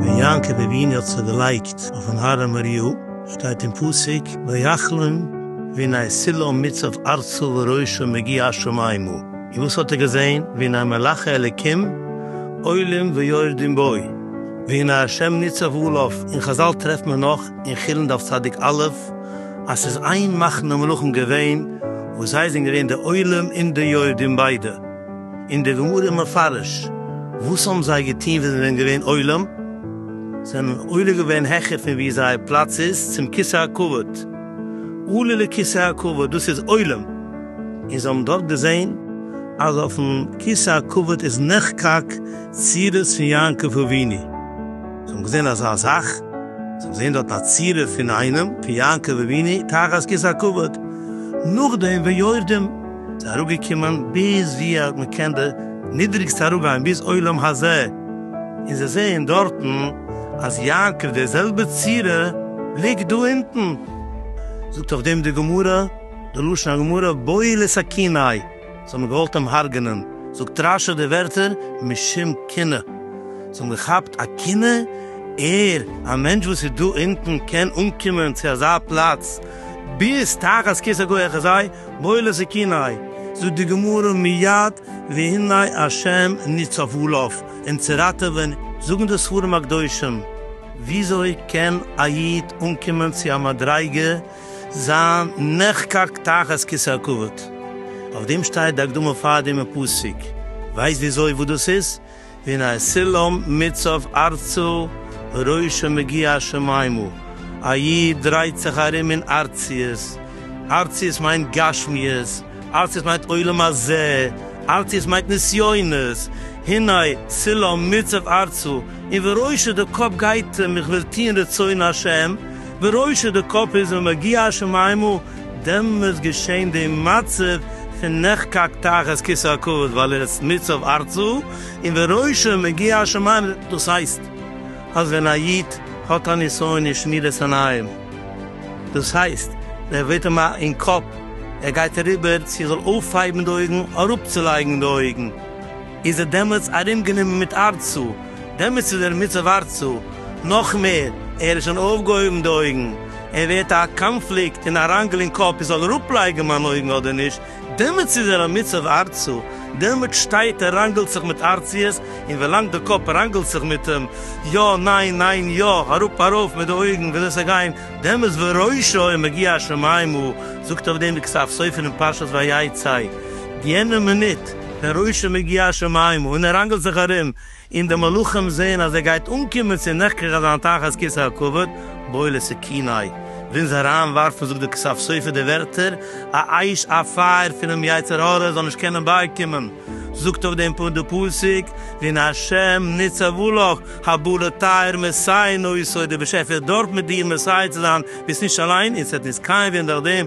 ווען יעקב אבינו האט זיך געלייגט אויפן הר מוריה, שטייט אין פסוק, ויחלום והנה סלעו מצב ארצו וראשו מגיע השמימה, און וואס האט ער געזען? והנה מלאכי אלקים עולים ויורדים בו, והנה ה' ניצב עליו, אין חזל טרעפט מען נאך אין חולין דף צדיק א', אז ס'איז איין מחנה מלכים געווען וואס זיי זענען געווען די עולים און די יורדים ביידע, און די גמרא איז מפרש וואס האבן זיי געטון ווען זיי זענען געווען עולים, זיי האבן עולה געווען העכער פון וואו זייער פלאץ איז צום כסא הכבוד, עלה לכסא הכבוד, דאס איז עולים, און זיי האבן דארט געזען אז אויפן כסא הכבוד איז נחקק צירות פון יעקב אבינו. זיי האבן געזען אזא זאך, זיי האבן געזען דארט א צירוף פון איינעם, פון יעקב אבינו, תחת כס הכבוד, נאכדעם ויורדים, זיי אראפגעקומען ביז ווי אז מען קען די נידריגסטע אראפגיין, ביז עולם הזה, און זיי זעען דארטן אז יעקב, דער זעלבער צורה, ליגט דא אונטן. זאגט אויף דעם די גמרא, די לשון הגמרא, בויל את הקנאי. זיי האבן געוואלט אים הרג'נען, זאגט רשי די ווערטער משום קנאה, זיי האבן געכאפט א קנאה, ער, א מענטש וואס איז דא אונטן, קען אנקומען צו אזא פלאץ ביז תחת כיסא גוי אחזי בולע סכיני, זאגט די גמרא מיד והנה השם ניצב עליו, אים צו ראטעווען, זאגן די ספרים הקדושים, וויאזוי קען א איד אנקומען צו א מדריגה, זיין נחקק תחת כסא הכבוד, אויף דעם שטייט די הקדמה פאר דעם פסוק, ווייסט וויאזוי וואס דאס איז? ווי א סולם מיט סוף ארצו ראשו מגיע השמימה, א איד דרייט זיך ארום אין ארציות, ארציות מיינט גשמיות, ארצי עס מיינט עולם הזה, ארצי עס מיינט נסיונות, הנה צילא מיצב ארצו, און וראשו די קאפ גייט אים איך וויל טוהן רצון השם, וראשו די קאפ איז ומגיע השמימה, דעמאלטס געשען די מצב פון נחקק תחת כסא הכבוד ווייל ער איז מיצב ארצו, און וראשו מגיע השמימה, דאס הייסט אז ווען א איד האט א נסיון אין שמירת עיניים, דאס הייסט, דער ווערט אים א אין קאפ, ער גייט אריבער צו ער זאל אויפהייבן די אויגן, אראפצולייגן די אויגן, איז ער דעמאלטס ארומגענומען מיט ארצו, דעמאלטס איז ער מצב ארצו, נאך מער, ער איז שוין אויפגעהויבן די אויגן, ער ווערט א קאנפליקט און א ראנגל אין קאפ, איך זאל אראפלייגן מיין אויגן אדער נישט, דעמאלטס איז ער א מוצב ארצו, דעמאלטס שטייט ער ראנגעלט זיך מיט ארציות, און ווילאנג די קאפ ראנגעלט זיך מיט אים, יא ניין ניין יא, אראפ ארויף מיט די אויגן ווי אזוי ס'זאל גיין, דעמאלטס וראשו עם מגיע השמים הוא, זאגט אויף דעם די כסף סופר אין פרשת ויצא, יענע מינוט ווען ראשו מגיע השמים הוא און ער ראנגעלט זיך ארום, און די מלאכים זעען אז ער גייט אנקומען צו נחקק אז זיין תחת כסא הכבוד בא לו סכיני, ווילן זיי אריינווארפן, זאגט דער כסף סופר די ווערטער, א אש א פייער פונעם יצר הרע זאל נישט קענען בייקימען, זאגט אויף דעם פוינט די פסוק, והנה השם ניצב לך, הבא לטהר מסי נאותו, דער באשעפער דארף מיט דיר מסייע צו זיין, ביסט נישט אליין, און ס'וועט נישט קיין ווערן דורך דעם,